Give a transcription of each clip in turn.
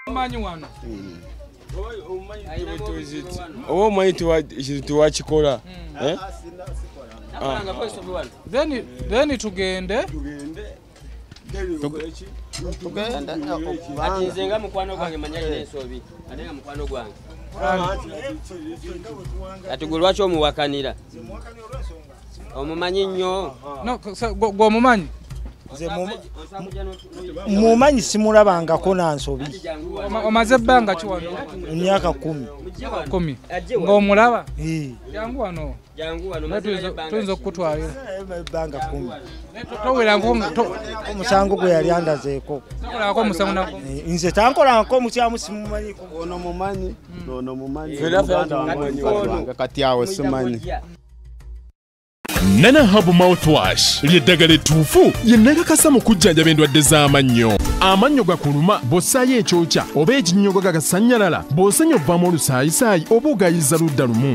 omanyi wano hmm. oba omanyi tiwakikola hmm. eh? ah. then tugende tugenda kati nze nga mukwano gwange manya alina ensobi ate nga mukwano gwange kati gwe lwaki omuwakanira omumanyi nnyo gweomumanyi mumanyi simulabangako nansobi omaze ebbanga kiwano emyaka kumi kumi ngaomulaba jangu wano tuyinza okukutwalira ebbanga kumi towerangako omusango gwe yali andazeeko eh, nze tankolanko omukyamu simumanyiko ono mumanyi hmm. ono mumanyi kati awo simanyi nana habu mouthwash lyeddagala ettuufu yennagakasa mu kujjanjaba endwadde z'amannyo amannyo gakuluma bw'ossaayo ekyokya oba ekinnyogo gagasannyalala bw'osenya obuvaamu olusaayisaayi oba ogayiza ludda lumu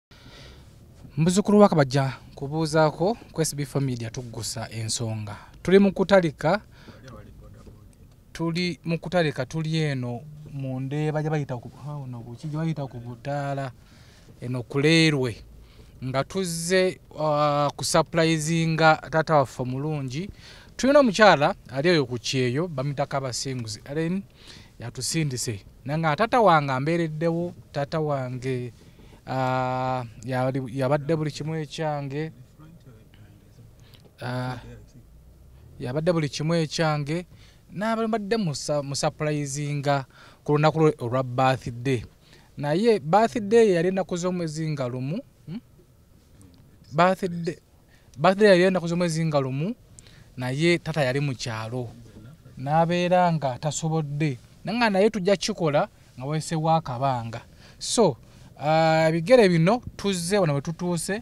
muzukulu wakabajja kubuuzaako ku sb familia tuggusa ensonga tuli mukutalika tuli mukutalika tuli eno mu ndeeba gyebayita kuki gyebayita ku butaala eno kuleerwe nga tuzze uh, ku sapulayizinga taata waffe omulungi tulina omukyala ali oyo ku kyeyo bamitako abasinguzi alen yatusindise nanga taata wange ambeereddewo taata wange Ah, yabadde buli kimu ekyange ah, yabadde buli kimu ekyange nabadde musapulayizinga ku lunaku lwe olwa birthday naye birthday yali enaku z'omwezi nga lumu hmm? birthday birthday yali ennaku z'omwezi nga lumu naye tata yali mu kyalo n'abeera nga tasobodde nanga naye tujja kikola nga wayisewo akabanga so ah, ebigere bino tuzze wano wetutuuse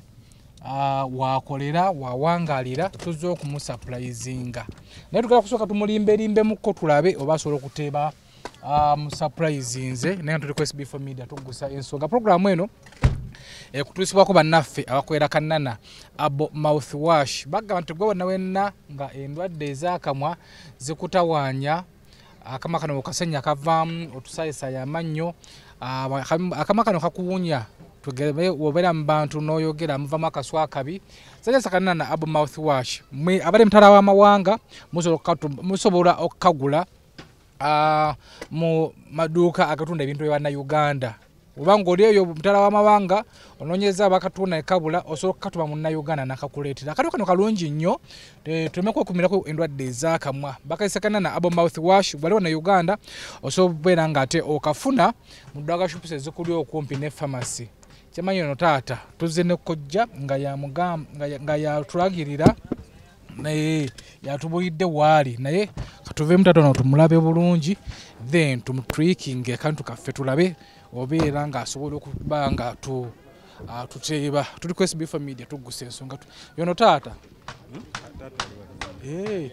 ah, wakolera wawangalira tuzze okumusapulayizinga naye tugala kusooka tumulimberimbemukko tulabe oba asobola okuteeba um, surprise nze naye tuli ku sb4 media tugusa ensonga programu eno ekutuusibwako eh, bannaffe abakolera kanana abo mouth wash bagamba nti gwe wonna wenna nga endwadde ez'akamwa zikutawaanya akama kano okasenya kavaamu otusaayisaayo amannyo ah, akama kano kakuwunya tugere obera mubantu noyogera muva makaswa akabi sasa sakana na abu mouthwash mwe abale mtara wa mawanga musobola okukagula uh, mu maduuka agatunda ebintu byebanna uganda oba ngaoli eyo mutala wamawanga ononyeza bakatunda ekabula osobola okukatuma munnauganda nakakuleetera akati kano kalungi nnyo eh, tuleme kwekumirako endwadde ezakamwa bakaisakana na abo mouth wash waliwo na uganda osobola okubeera nga ate okafuna mu dwaga shops ezikuli okumpi ne pharmacy kyamanyi ono taata tuzze nekojja nga yatulagirira naye yatubulidde waali naye katuveemu tatono tumulabe bulungi then tumutwikinge kantu kaffe tulabe obeera ng'asobola okuba nga tu Ah, tuteeba tuli ku sbfa media tuggusa ensonga yono taata hmm? eh,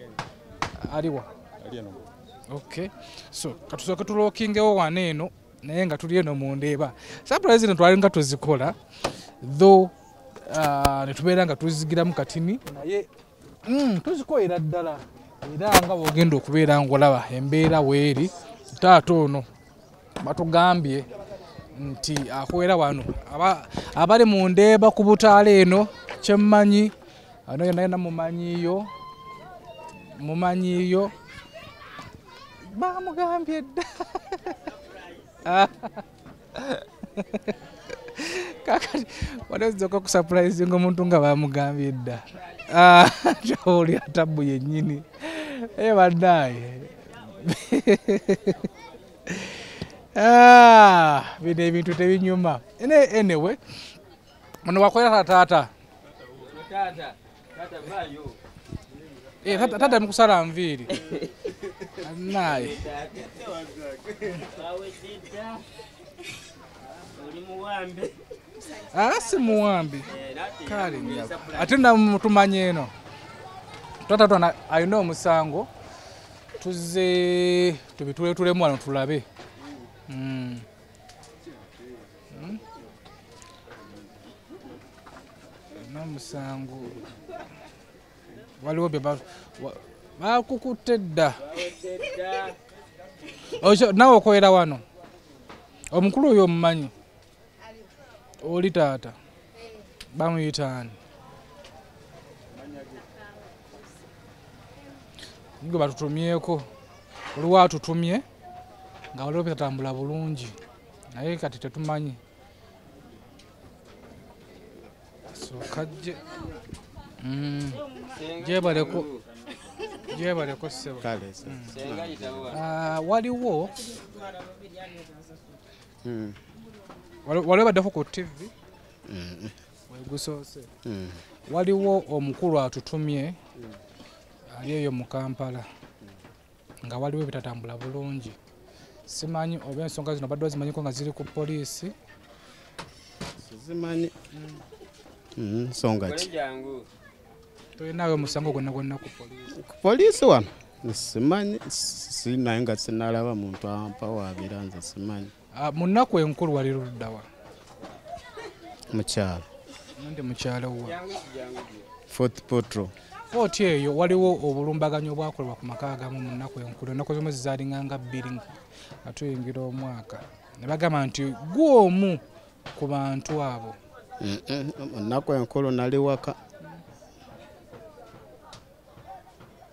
aliwa ok so katusooke tulookingewo wana eno naye nga tuli eno mu ndeeba surprise no twali nga tuzikola tho uh, ah, netubeera nga tuzigiramu katini naye mm, tuzikolera ddala era nga bwogenda okubeera ngaolaba embeera weeri taata ono batugambye nti akolera wano abali mu ndeeba ku butaala eno kyemmanyi Ano yena yena mumanyiyo mumanyiyo bamugambye dda kakati waliozidzoka kusurprisinga omuntu nga bamugambye dda ah, oli atabu yenyini ebadaaye ah, bino ebintu tebinyuma anyway Ono wakwera tata. Tata. Tata. Tata. Tata. Eh, tata mkusala mviri naye ah, si muwambi eh, kale ate namutumanya eno tata twana alina omusango tuzze tubituletulemu wano tulabe mm. Hmm? nomusango waliwo bakukutte dda nawe okolera wano omukulu oyo omumanyi oli taata bamuyitaani gwe batutumyeko oliwo atutumye nga waliwo betatambula bulungi naye kati tetumanyi sokajje mm. jebaleko jebaleko sebo mm. ah, waliwo mm. waliwo baddeko ku tv wegusoose waliwo omukulu atutumye ali eyo mu kampala nga waliwo ebitatambula bulungi simanyi oba ensonga zino badde ozimanyiko nga ziri ku poliisi zimanyi mm-hmm. nsonga ki tolinawe musango gwonna gwonna ku poliisi ku poliisi wano simanyi sinaye nga sinalaba muntu ampawabira nze simanyi Ah, mu nnaku enkulu wali luddawa mukyalo ndi mukyalo wa fort potro kooti eyo waliwo obulumbaganyi obwakolebwa ku maka agamu mu nnaku enkulu ennaku zimu zizalinganga bbiri nga tuyingira omwaka ne bagamba nti gwe omu ku bantu abo mu nnaku enkulu nali waka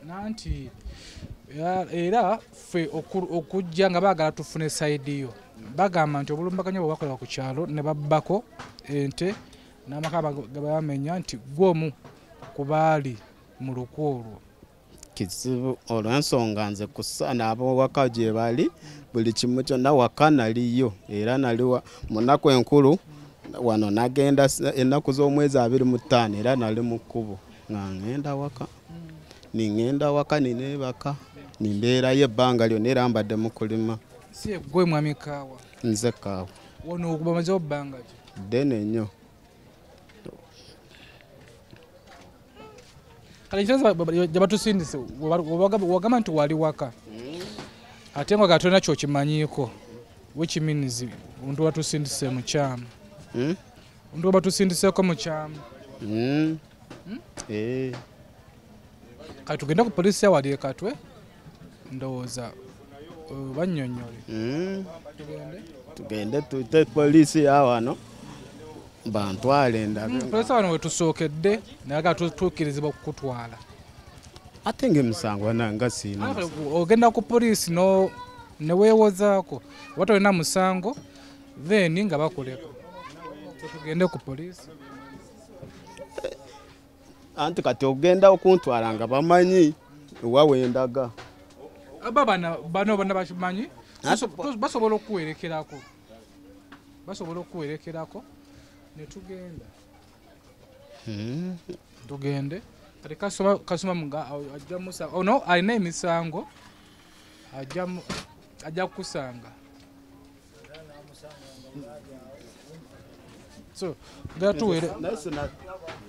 nanti era ffe okujja nga baagala tufune sayidi yo bagamba nti obulumbaganya bwe bakola ku kyalo ne babbako ente n'amaka gabamenya nti gwomu ku baali mu luku olwo kizibu olw'ensonga nze kusaana ab'owaka gye bali buli kimu kyonna waka naliyo era naliwa mu nnaku enkulu wano nagenda ennaku z'omwezi abiri mu ttaano era nali mu kkubo nga ŋŋenda waka niŋŋenda waka nineebaka nimbeerayo ebbanga lyonna era mbadde mu kulima si egwe mwami kaawa nze kaawa wano okubamazewo bbanga ki ddene nnyo kale nkiroza gyebatusindise wagamba nti wali waka ate nga gatolina kyokimanyiiko which means omuntu watusindise mukyama hmm? Ndio batusindiseko mu kyama. Mm. Hmm? Eh. Kati tugenda ku police ya wali ekatwe. Ndowoza uh, banyonyole. Mm. Tugende. Tugende tute police ya wano. Bantwale ndaga. Mm, police wano wetusookedde naga tutukirizibwa kukutwala. Ate ng'emisango nanga siina. Ogenda ku police no ne weewozaako oba tolina musango then nga bakuleka tugende ku poliisi anti kati ogenda okuntwala nga bamanyi ewawendaga aba bana bano bana bakimanyi basobola okuwerekerako basobola okuwerekerako netugenda hmm. tugende kati kasoma mga ajja musa ono oh, alina emisango ajja kukusanga so gatuwere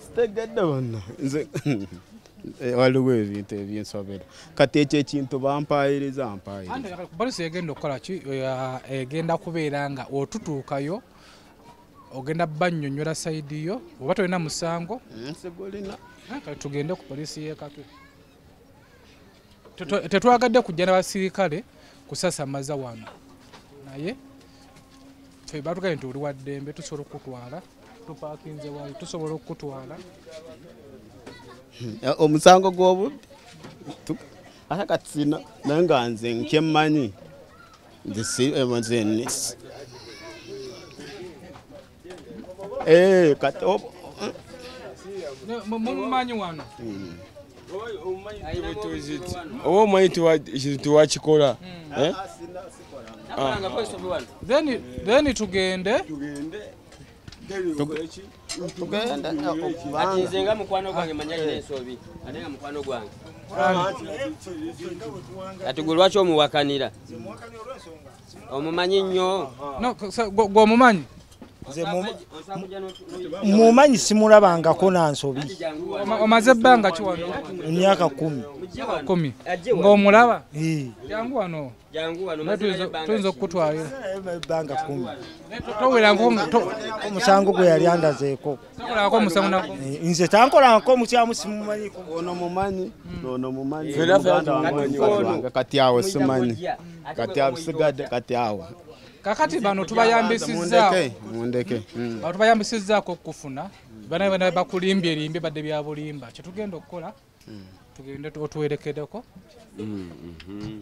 sitegedde bonna nze Eh, waliwo ebintu ebyensobera kati ekyo ekintu bampayiriza mpayirizabalisi egenda okukola ki egenda kubeera nga otutuukayo ogenda banyonyola saidi yo oba tolina musango nsigulina eh, tugende ku polisi yekatwe tetwagadde kujja nabasirikale kusasamaza wano naye batugambye nti oli waddembe tusobola okukutwala tupakinze wali tusobola okukutwala hmm, eh, omusango gwobubbi ate kati sina naye nga nze nkyemmanyi nze eh, Eh, kati ob- mumumanyi wano oba omanyi tiwa- ekintu tiwakikola eh? then then tugende tugenda kati nze nga mukwano gwange manya alina ensobi ate nga mukwano gwange kati gwe lwaki omuwakanira omumanyi nnyo gwomumanyi mumanyi simulabangako nansobi omaze ebbanga kiwano emyaka kumi kumi ngaomulaba jangu wano tuyinza okukutwalira ebbanga kumi towerangoomusango gwe yali andazeeko nze tankolanko mukyamu simumanyiko ono mumanyi ono mumanyi kati awo simanyi kati abisigadde kati awo kakati bano tubayambisizza mundeke hmm. bano tubayambisizzaako okufuna bana bana bakulimbye limbye badde byabulimba kyetugenda okukola hmm. tugende otuwerekedeko hmm, mhm.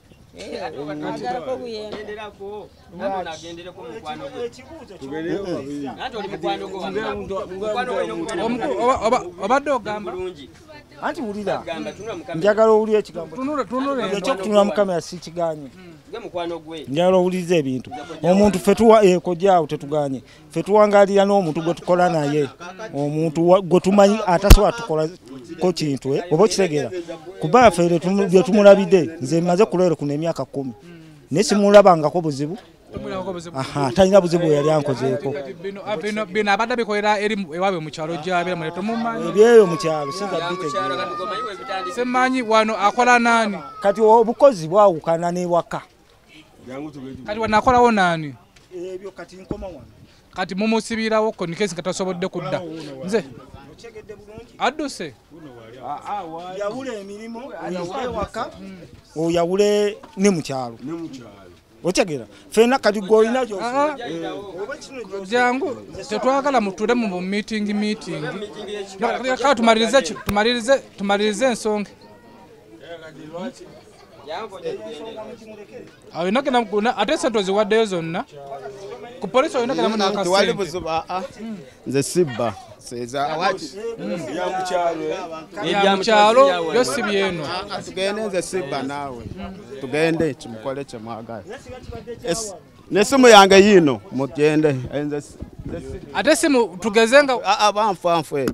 obadde ogamba anti wulira njagala owulira ekigamboekyokutunula mukama yasikiganye njagala owuliriza ebintu omuntu fe tuwa ekojaawo eh, tetuganye ffe tuwangalira n'omuntu gwe tukola naye omuntu gwe tumanyi atasobola tukolako kintu eh? oba okitegeera kuba ffe bye tumulabidde nze maze kulwere kuno emyaka kumi naye simulabangako buzibu talina buzibu weyali ankozeeko bino abadde bikolera eri ewabwe mukyalo gyabeera mule tomumanyi ebyeyo mukyalo sinza bitegeera semanyi wano akola nani kati obukozi bwawukana newaka kati wanakolawo naani ebyo kati nkoma wano kati mumusibirawo ko nikesi nga tasobodde kudda nze adduse ah, ah, yawula emirimu oyawule ewaka oyawule ne mukyalo otegera fena kati gwolina ah, jangu tetwagala muture mu meeting meeting tumalirize ensonga awo yonna genda mukuna ate sente oziwaddeyo zonna ku polisi olina genda muna akasente nze sibba yamukyalo yo si byeno tugende nze sibba naawe tugende kimukole kyemwagala nesimu yange yiino mugende ate simu tugeze nga abanfu anfu eyo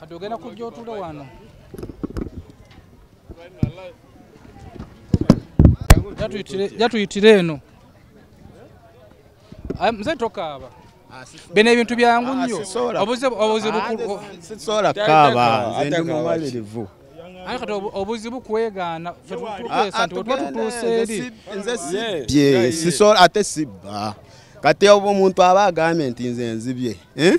kati ogenda kujja otule wano jatuyitire eno ah, mze tokaaba ah, bino ebintu byangu ah, nnyo obuzibusobola kaaba nze ndi mumalirivu aye kati obuzibu kwegaana tukwesa nti otuba tutuuse eri ate sibba kati oba omuntu aba agambye nti nze nzibye eh?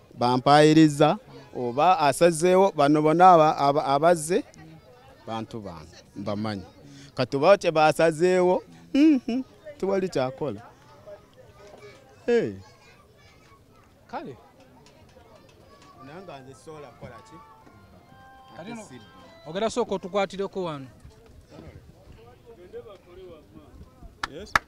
bampaayiriza oba asazeewo bano bona abazze bantu bange mbamanyi kati oba kye basazeewo mhm, tewali kyakola kale ogera sooka otukwatireko wano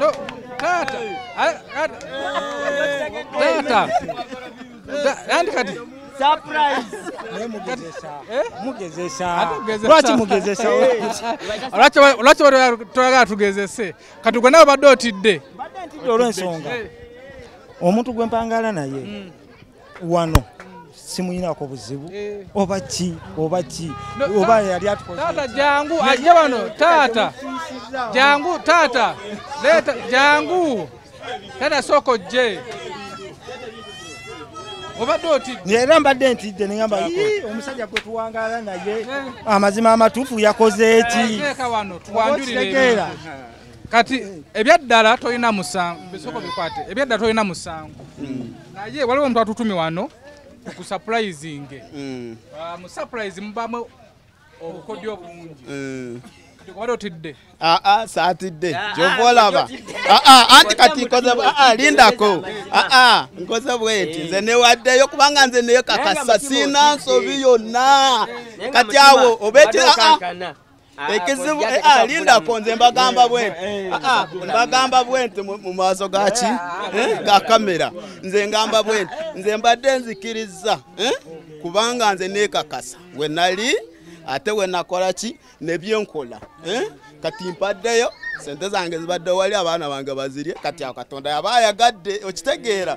No, taata a- a- taata Ta- andi kati Atugezesa. lwaki mugezesa Lwaki wa- lwaki wa- toyagala tugezese kati gwe nawe badde otidde olwensonga omuntu gwe mpangaala naye wano simuyinako buzibu eh. oba ki oba ki oba yali atukotaata jangu ajje wano taata jangu taata leeta jangu taata sooka ojje obadde otidde era mbadde ntidde nengamba omusajja gwe tuwangaala naye eh. amazima amatuufu yakoze eki eh, kati ebyaddala tolina musango bisoko bikwate ebyaddala tolina musango mm. naye waliwo omuntu atutumi wano kusupurizinge mm. ah, musupurizi mubamu obukodyo bungi mm. kubadde otidde aa ah, ah, saatidde ah, kyova olaba aa anti kati nkoze aa lindako aa nkoze bweti nze newaddeyo kubanga nze neyo kakasa sina nsobi yonna kati awo obeki aa Ah, ekizibu eh, ah, lindako nze mbagamba eh, bwenti eh, ah, mbagamba bwenti mu maaso gaki ga kamera nze ngamba bwenti nze mbadde nzikirizza kubanga nze nekakasa we nali ate we nakola ki nebyenkola kati mpaddeyo sente zange zibadde wali abaana bange bazirye kati awo katonda yaba ayagadde okitegeera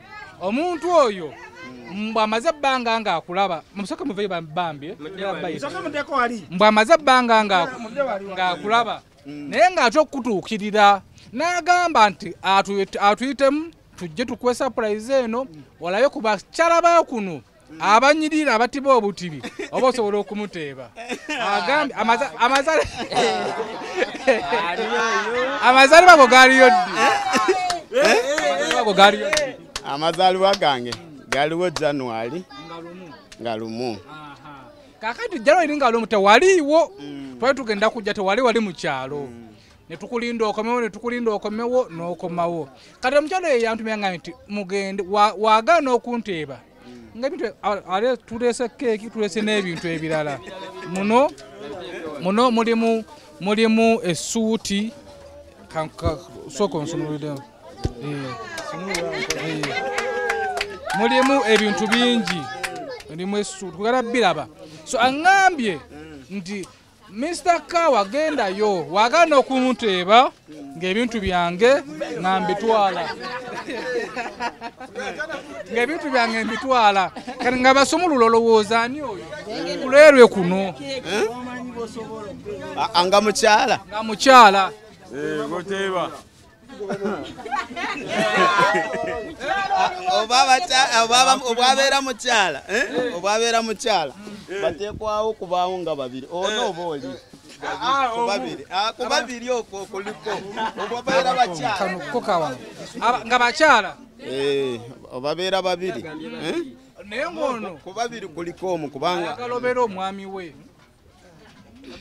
omuntu oyo mbwamaze ebbanga nga akulaba musoke muveyo bambi eh? mbwamaze ebbanga nga akulaba mm. naye ng'ate okukutuukirira n'agamba nti atuyitemu tujje tukuwe sapurayizi eno olabe ku bakyala ba kuno abanyirira abatiba obutibi oba osobola okumuteeba agambye amazalibwa go galiyo ddi amazalibwa gange galiwo january nga lumu kakati january nga lumu tewaliiwo mm. twali tugenda kujja tewali wali mu kyalo mm. netukulinda okomewo netukulinda okomewo nokomawo kati omukyalo eyo yantumya nga nti mugende wagaana okunteeba nga ebintu ale tulese keeki tulese n'ebintu ebirala muno muno mulimu mulimu esuuti sooka onsumulidemu eh, eh. mulimu ebintu bingi mulimu esuuti kugala biraba so aŋambye nti Mr. Kawa gendayo wagana okunteeba ng'ebintu byange nga mbitwala ng'ebintu byange mbitwala kati nga basumulula olowooza ani oyo kulerwe kuno eh? nga mukyala nga mukyala eh, obwabeera mukyala eh? obwabeera mukyala bateekwawo okubaawo nga babiri ono oh, oba oli Ah, ah, kubabiri ah, okwo kuliko obabeera bakyala nga bakyala eh, obabeera babiri eh? naye ngono kubabiri kuliko omu kubanga agalobera omwami we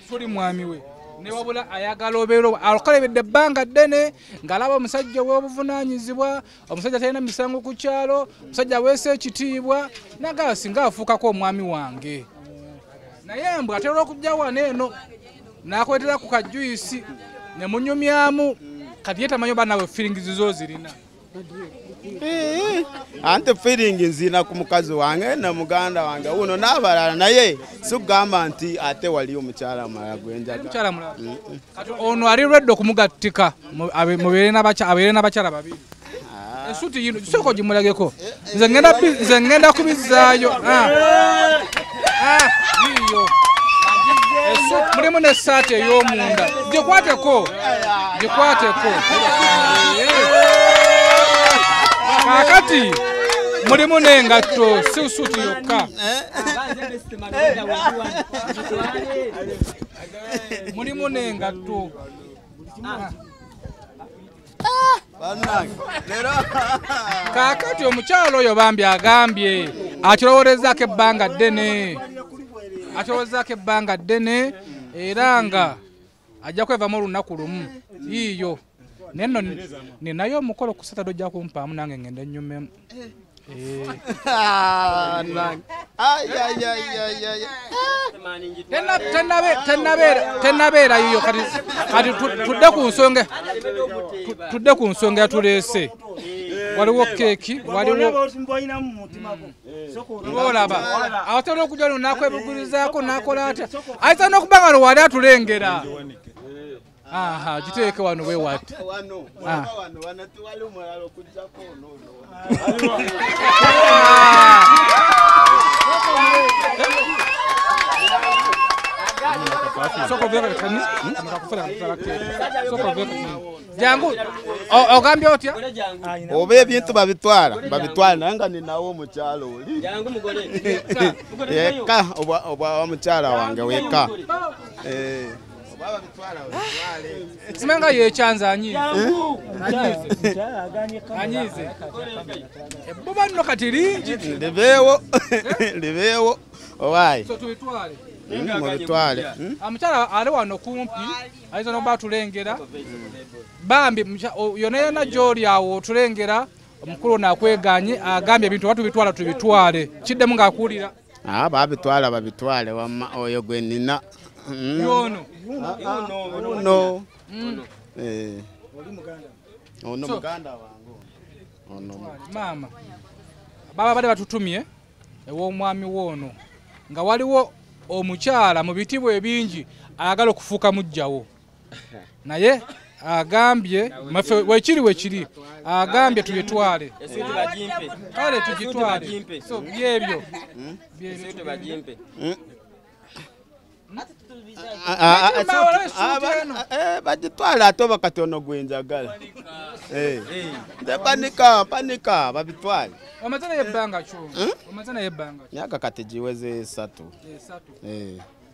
tuli mwami we newabula ayagala obeera akolebedde ebbanga ddene ng'alaba omusajja ow'obuvunaanyizibwa omusajja talina misango ku kyalo omusajja aweesa ekitiibwa nagaa singa afuukako omwami wange naye mbu atera okujja wano eno n'akuletera ku kajuyisi ne munyumyamu kati ye tamanyi oba nawe firingizi zo zirina ante feeling nzina ku mukazi wange na muganda wange uno n'abalala naye sikugamba nti ate waliyo omukyala mulala gwenjaga ono ali redde okumugattika abeere n'abakyala babiri esuti ah. yino sooka ogimulageko nze ngenda bi- nze ngenda kubizzaayo Ah. Ah, yiyo Esu- mulimu n'essaati ey'omunda gikwateko gikwateko kakati mulimu n'engatto si suuti yokka mulimu n'engatto kaakati omukyalo oyo bambi agambye akiroworezaako ebbanga ddene akiroworezaako ebbanga ddene era nga ajja kwevamu olunaku lumu yiiyo naye no ninayo omukolo ku saturday ojja kumpaamu nange ngende nyumemu tenabeera yiyo kati tudde ku nsonga tudde ku nsonga yatuleese waliwo keeki waliwoolaba asobola okuja lunaku ebugurizaako nakola atya ayisa nokuba nga lwewali atulengera aha giteeke wano bwe wati ah. jangu ogambye otya oba ebintu babitwala babitwala naye nga ninawo omukyalo oli yeka obwa omukyala wange weka eh. simanga yekyanza anyize anyize ebbuba nno kati lingi libeewo libeewo owaayi tubitwale mubitwale omukyala hmm? hmm? ali wano kumpi ayinza nokuba atulengera bambi yona yona gyoli awo otulengera omukulu ono akweganye agambye ebintu oba tubitwala tubitwale kiddemu ng'akuwulira Ah, babitwala babitwale wama oyo gwe nina mm. yono no mm. eh oli muganda ono muganda wangu ono mama baba bade batutumye ewo mwami wono nga waliwo omukyala mu bitibwe bingi ayagala okufuka mujjawo naye agambye mafe wekiri wekiri agambye tuyitwale kale tugitwale so byebyo hmm? bagitwala ate oba kati ono gwenjagala eh. nze panika panika babitwale hmm? myaka kati giweze esatu eh,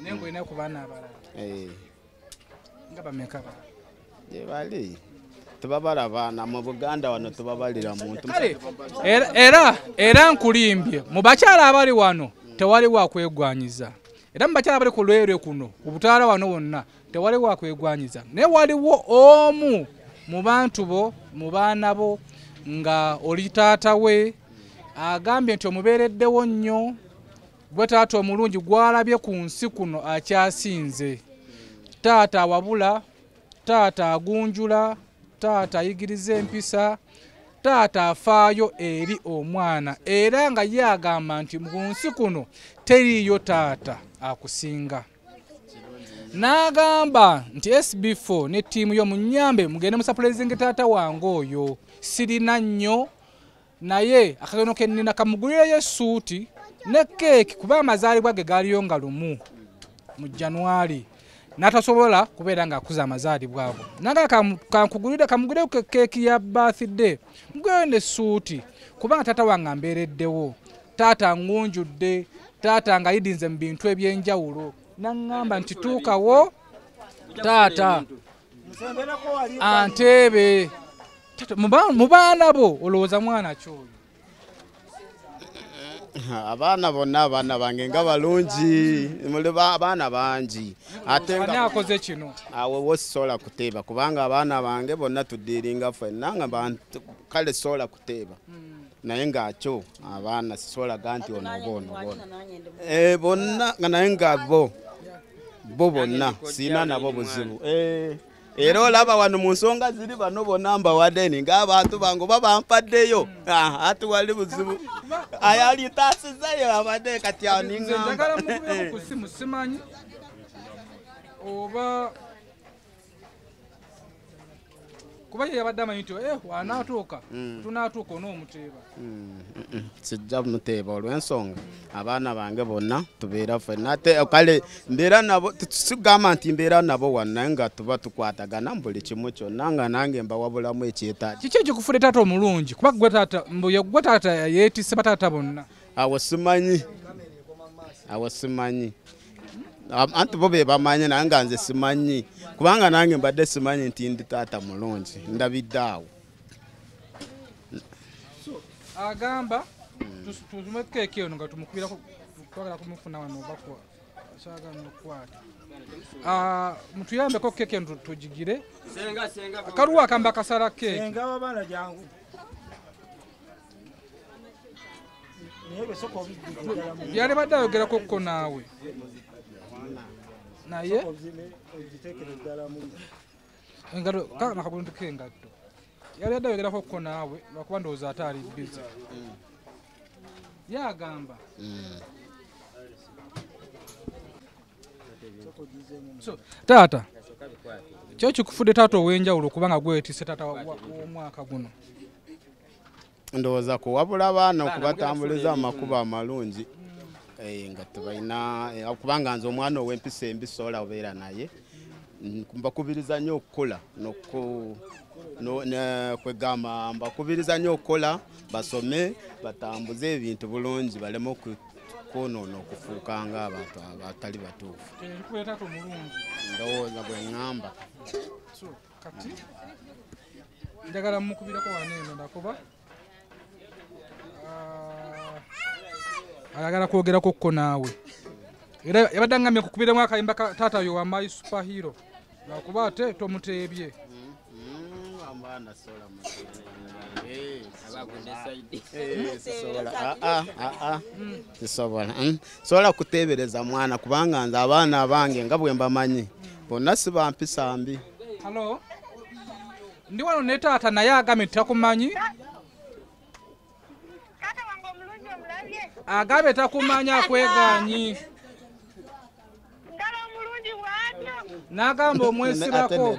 naye ngaolina ku baana abalala eh. nga bameka ba gyebali tebabalaba na mu buganda wano tebabalira muntu kale era era nkulimbye mu bakyala abali wano tewali wakwegwanyiza era mu bakyala abali ku lwere kuno ku butaala wano wonna tewali wakwegwanyiza naye waliwo omu mu bantu bo mu baana bo nga oli taata we agambye nti omubeereddewo nnyo gwe taata omulungi gwalabye ku nsi kuno akyasinze taata awabula taata agunjula taata ayigiriza empisa taata afaayo eri omwana era nga ye agamba nti mu nsi kuno teriiyo taata akusinga n'agamba nti sb4 ne ttiimu yo munyambe mugende musapulezinga taata wange oyo sirina nnyo naye akageno kenina kamugulireyo esuuti ne keeki kuba amazaalibwa ge gaaliyo nga lumu mu januari natasobola kubeera nga akuza amazaalibwa ago naga kankugulire kamugulire ku keeki ya birthday mugweyo ne suuti kubanga taata wange ambeereddewo taata ngunjudde taata nga yidinze mu bintu ebyenjawulo naŋŋamba nti tuukawo taata anteebe mu baana bo olowooza mwana kyoyo abaana bonna abaana bange nga balungi muli abaana bangi ateakoze kino awe wosisobola kuteeba kubanga abaana bange bonna tuddiiringa fenna nga kale sobola teeba naye ng'akyo abaana sisolaga nti ono oba ono bona eh, bonna nga naye nga bo bo bonna siina nabo buzibu eh, era olaba wano mu nsonga ziri bano bona mbawadeni ng'abantu bange oba bampaddeyo ah, ati wali buzibu ayalitasizayo abadde kati aninga oba kuba ye yabadde amanyi nti eh, wanaatuuka mm. mm. tunaatuuka onoomuteeba mm, sijja muteeba olw'ensonga abaana bange bonna tubeera fena ate eh, kale mbeera nabo tugamba nti mbeera nabo wanaye nga tuba tukwatagana mu buli kimu kyonna nga nange mbawabulamu ekyetaagi kiki ekikufude taata omulungi kuba gwe taata mbuye gwe taata yeetise bataata bonna awo simanyi awo simanyi anti bo be bamanyi naye nga nze simanyi kubanga nange mbadde simanyi nti ndi taata mulungi ndabidde awo agamba tuzimekeke ono nga tumukubira twagala kumufuna wano obakwa kyagala okukwata ah, mutuyambeko keke ntu tugigire akaluwa akamba akasala keke yali badde ayogerako ko naawe naye engato kaka nakabuntuko engatto yali adde ayogerako ko naawe lwakuba ndowooza ate ali bizi yagamba taata kyo kikufudde taata ow'enjawulo kubanga gwetise taata w'omwaka guno ndowooza kuwabula abaana okubatambuliza mu makubo amalungi eh, nga tebalina eh, kubanga nze omwana ow'empisa embi sobola obeera naye mbakubiriza nnyo okukola kwegamba mbakubiriza nnyo okukola basome batambuze ebintu bulungi baleme okwonoona okufuuka nga abantu abatali batuufu ndowooza bwe ŋŋamba kati njagala mukubireko wano eno nakuba ah, ayagala kwogerako ko naawe era yabadde angamye kukubiremu akayimba ka taata yo wa my superhero nakuba ate tomuteebye sisobola mm, sobola kuteebereza mwana kubanga nze abaana abange nga bwe mbamanyi bonna si bampisa mbi halo ndi wano ne taata naye agambye titakumanyi agambye takumanyi akweganyi n'agamba omwesirako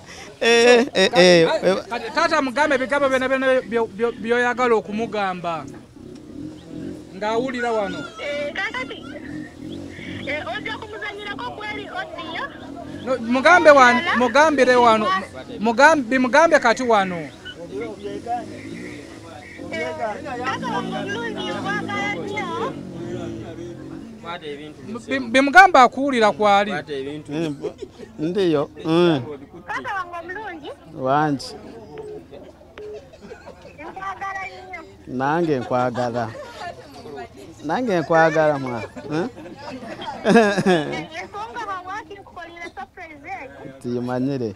Eh, eh, eh, taata mugambe ebigambo byona byona byoyagala okumugamba ngaawulira wano mugambe mugambire wano bimugambye kati wano bimugamba akuwulira kwali ndiyo mm. wangi nange nkwagala nange nkwagala mwa eh? tuyimanyire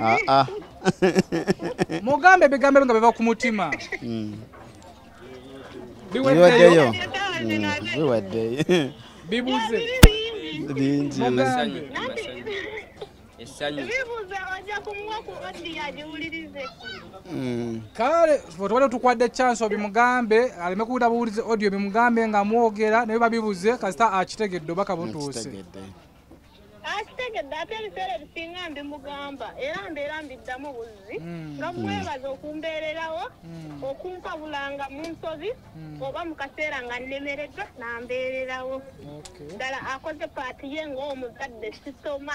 Ah, ah. mugambe ebigambo nga biva ku mutima hmm. biweddeyo biweddeyo hmm, bibuze bingi hmm. kale otubadde tukwadde chance obimugambe aleme kuwulira buwulize audio bimugambe nga mwogera naye babibuze kasita akitegedde obaka butuuse akitegedde ate ebiseera ebisinga mbimugamba era mbeera mbiddamu buzzi hmm. nga mwebaza okumbeererawo hmm. okumpabulanga mu nsobi hmm. oba mu kaseera nga nnemereddwa nambeererawo ddala akoze paati ye ng'omuzadde sisoma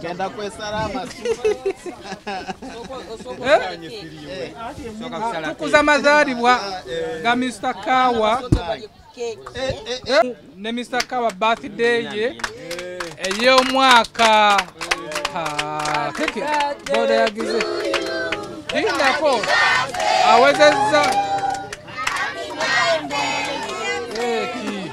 genda kwesala amasutukuza mazaalibwa ga mr kawa ne mr kawa birthday ye ey'omwaka keke boda yagize lindako awezezza eki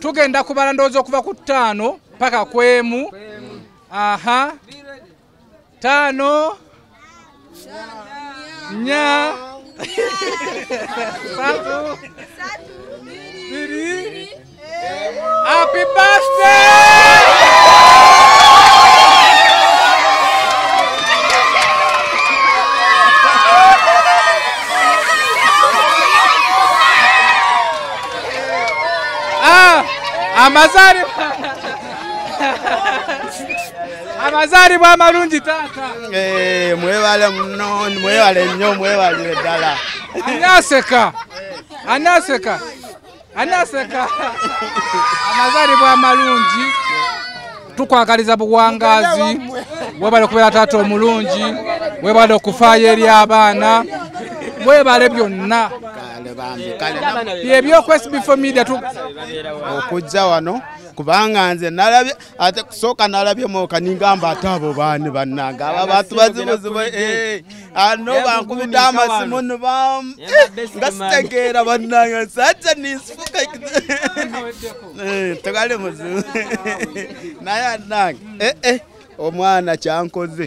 tugenda kubala ndowooza okuva ku ttaano paka ku emu aha ttaano nya satu biri Happy birthday! Ah, amazaalibwa amazaalibwa amalungi taata Eh, mwebale muno mwebale nnyo mwebalire ddala ani aseka ani aseka anaseka amazalibwa amalungi tukwagaliza buwangazi webale okubeera taata omulungi webale okufaayo eri abaana webale byonna byebyokwesbfo media okujja wano kubanga nze nalabye ate kusooka nalabyemu kaningamba ate abo baani bannange abo abantu bazibuzibu eh, ano ah, bankubidde amasimu nibam eh, nga sitegeera bannange saja ninsifuka eh, tegali muzibu naye annange omwana kyankoze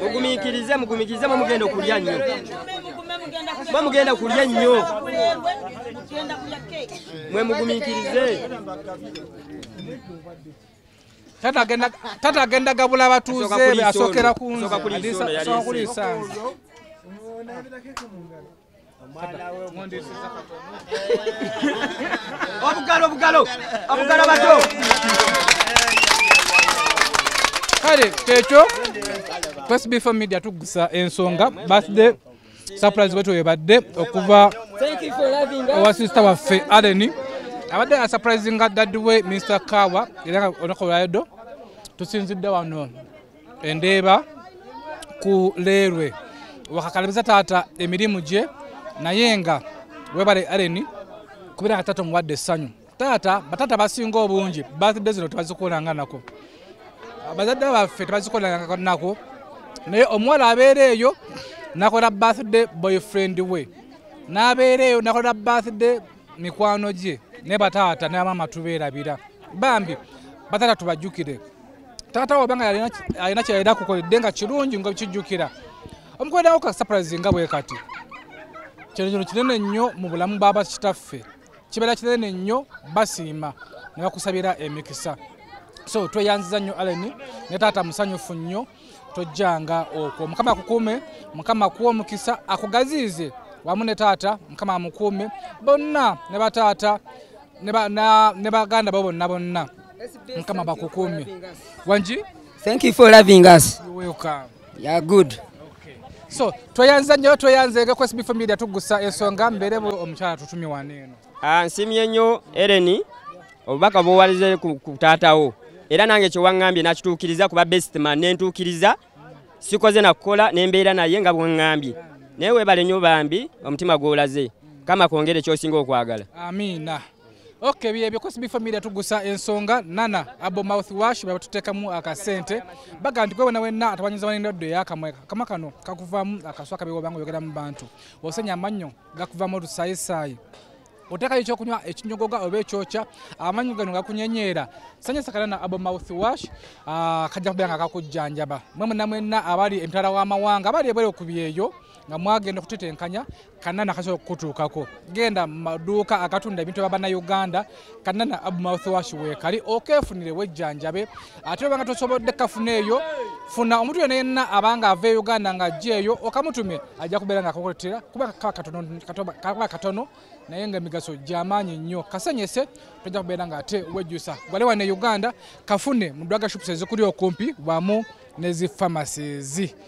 mugumikirize mugumikirize mwe mugenda okulya nnyo mwe mugenda kulya nnyo mwe mugumikirize tata agenda gabula batuuze asookera ku nze obugalo obugalo obugalo bato kale kyekyo first before media tugusa ensonga birthday surprise wetu webadde okuva owa sister waffe aleni abadde asurprise nga daddy we mr kawa era nga olunaku olwayodo tusinzidde wano endeeba ku leerwe wakakalabiza taata emirimu gye naye nga webale areni kubeera nga taata omuwadde essanyu taata bataata basinga obungi birthday zino tebazikoleranga nako bazadde baffe tebazikoleranga nako naye omuwala abeera eyo nakola birthday boyfriend we n'abeera eyo nakola birthday mikwano gye ne bataata ne bamaama tubeerabira bambi bataata tubajjukire taata wo obanga alina kyeyalina kukoledde nga kirungi nga kijjukira omukoleddawo ka surprise nga bwe kati kino kino kinene nnyo mu bulamu baba kitaffe kibeera kinene nnyo basiima ne bakusabira emikisa so tweyanziza nnyo allen ne taata musanyufu nnyo tojjanga okwo mukama akukuume mukama akuwa omukisa akugaziize wamu ne taata mukama amukuume bonna ne bataata ne baganda bo bonna bonna mukama bakukuumye wangi thank you for loving us welcome ya good so tweyanza nnyo tweyanzege ku sbf media tugusa ensonga mbeere omukyala tutumye wano eno ah, nsimye nnyo ereni obubaka buwalize ku taatawo era nange kyewaŋŋambye nakituukiriza kuba bestman nentuukiriza sikoze nakukola nembeera naye nga bwengambye naye webale nyo bambi omutima gwolaze kama kwongere kyosinga okwagala amina ok byebyo cosby family tugusa ensonga nana abo mouth wash bebatutekamu akasente baga nti gwewena wenna atawanyiza wanendwaddo eyakamwe kama kano kakuvamu akaswa kabiwobanga oyogera mu bantu osenya amannyo gakuvamu olusayisaayi otekayo ekyokunywa ekinyogoga oba ekyokya amanyi gano gakunyenyeera sanyusa kana na abo mouth wash ah, kajja kubeera nga kakujjanjaba mwe muna mwenna abali emitala w'amawanga abali ebweru ku byeyo nga mwagenda okutetenkanya kanana kasobola okukutuukako genda mu maduuka agatunda ebintu bya bannayuganda kanana abu mouth wash weekali okeefunire wejjanjabe ate obanga tosobodde kafuna eyo funa omuntu yena yenna abanga ava e uganda nga ajja eyo okamutume ajja kubeera nga akakuletera kuba kaba katono naye nga emigaso gyamaanyi nnyo kasenyese tojja kubeera nga ate wejjusa gwale wane uganda kafune mu dwaga shops ezikuli okumpi wamu nezi pharmacies